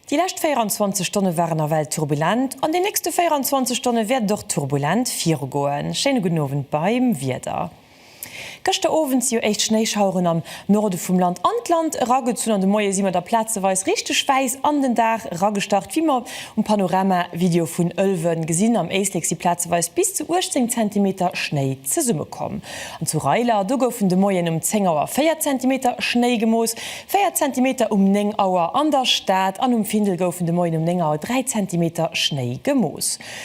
Déi lescht 24 Stonne waren nawell turbulent, an den nächste 24 Stonne wäert et och turbulent virugoen. Schéine gudden Owend beim Wieder. Gëschter Owend si jo éischt Schnéischaueren am Norde vum Land an d'Land eragezunn an de Moie si mer da plazeweis richteg wäiss an den Dag eragestart, wéi mer um Panoramavideo vun Ëlwen gesinn. Am Éislek si plazeweis bis zu 18 Zentimeter Schnéi zesummekomm an zu Reiler do goufen de Moien um 10 Auer 4 Zentimeter Schnéi gemooss, 4 Zentimeter um 9 Auer an der Stad an um Findel goufen de Moien um 9 Auer 3 Zentimeter Schnéi gemooss.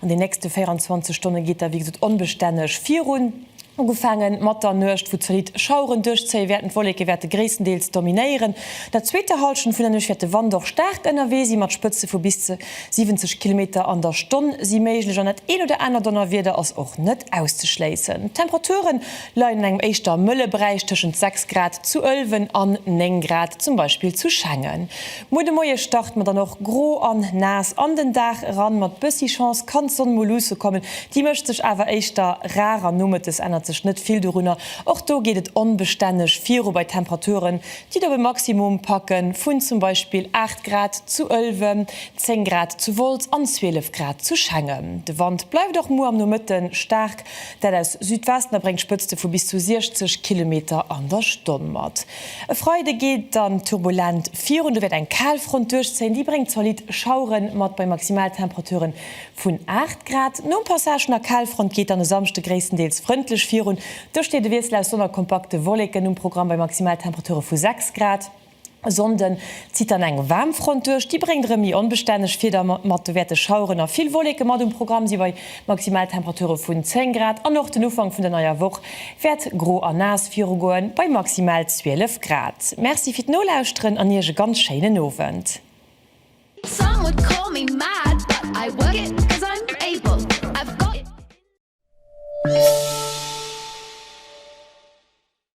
An den nächste 24 Stonne geet da wéi gesot onbestänneg virun. Ugefaange mat der Nuecht, wou zolitt Schaueren duerchzéie wäerten. D'Wolleke wäerte gréisstendeels dominéieren. An der zweeter Hallschent vun der Nuecht wäert de Wand och staark ënnerwee si mat Spëtze vu bis ze 70 Kilometer an der Stonn si méiglech an dat een oder aner Donnerwieder ass och net auszeschléissen. D'Temperature leien an engem éischter mëlle Beräich tëschent 6 Grad zu Ëlwen an 9 Grad zum Beispill zu Schengen. Muer de Moie start mer dann och gro an naass an den Dag eran. Mat bëssi Chance kann d'Sonn mol luusse kommen, déi mécht sech awer éischter rar an nomëttes ännert sech net vill dorunner. Och do geet et onbestänneg viru bei Temperaturen, déi et op e Maximum packe vun zum Beispill 8 Grad zu Ëlwen, 10 Grad zu Wolz an 12 Grad zu Schengen. De Wand bleift och muer am Nomëtte staark, dat aus Südwesten, a bréngt Spëtzte vu bis zu 60 Kilometer an der Stonn mat. E Freide geet et dann turbulent virun, do wäert eng Kalfront duerchzéien, déi bréngt zolidd Schauere mat bei Maximaltemperature vun 8 Grad. Nom Passage vun der Kalfront geet dann e Samschde gréisstendeels frëndlech virun, do steet e Wiessel aus Sonn a kompakte Wolleken um Programm bei Maximaltemperature vu 6 Grad. E Sonnde zitt dann eng Waarmfront duerch, déi bréngt erëm méi onbestänneg Wieder mat, do wäerte Schaueren a vill Wolleke mat um Programm si bei Maximal Temperature vun 10 Grad an och den Ufank vun der neier Woch wäert gro a naass virugoen, bei maximal 12 Grad. Merci fir d'Nolauschteren an Iech e ganz schéinen Owend. Some would call me mad, but I work it cause I'm able, I've got it in me.